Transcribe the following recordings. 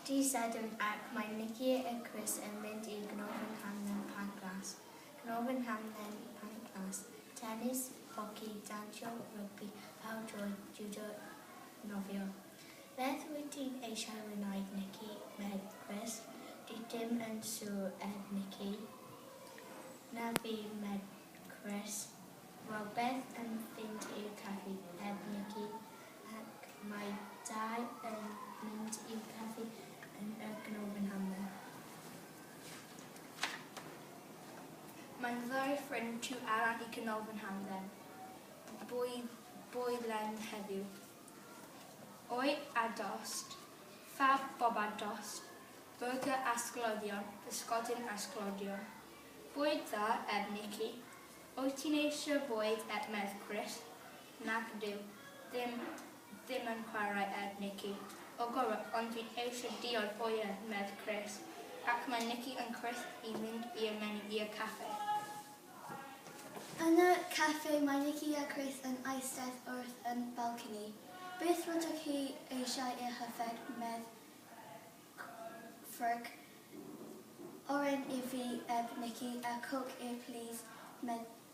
Dydd Sadwrn ac mae Mici y Crys yn mynd i Gnofen Hamdden Pancras. Gnofen Hamdden Pancras, Tenis, Hoci, Dansio, Rygbi, Pêl Droed, Jwdo, Nofio. Beth wyt ti'n eisiau wneud Mici? medd Crys. Dwi ddim yn siwr edd Mici. Na fi medd Crys. Wel beth yn fynd i'r caffi edd Mici. ac mae dau yn mynd i'r caffi yn y Gnomon Hammer. Mae'n ddau ffrind tu allan i Gnomon Hamdden, bwyd, bwyd len heddiw. Oi a dost, fab bob a dost, burger a sglodion, bysgodyn a sglodion. Bwyd dda, eb Nicky. Wyt ti'n eisiau bwyd, eb Mercwris? Nac ydyw. Ddim, ddim yn chwarae ef, Nici. O gwbl, ond dwi eisiau diod o ie, medd Chris. Ac mae Nici yn cwrdd i mynd i'r menu i'r caffe. Yn y caffe mae Nici a Chris yn eistedd wrth y balcony. Beth rydych chi eisiau i'ch yfed, medd Ffrwc. Oren i fi, eb Nici, a coke i plîs, medd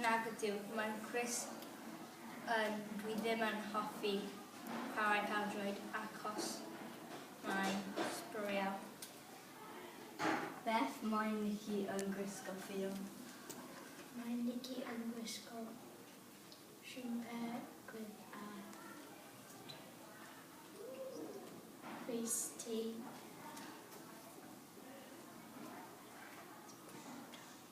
Nag ydyw. Mae'n cwis yn dwi ddim yn hoffi chwarae pêl-droed achos mae'n sbwriel. Beth mae Nikki yn gwisgo, Ffion? Mae Nikki yn gwisgo siwmper gwyrdd a crys du.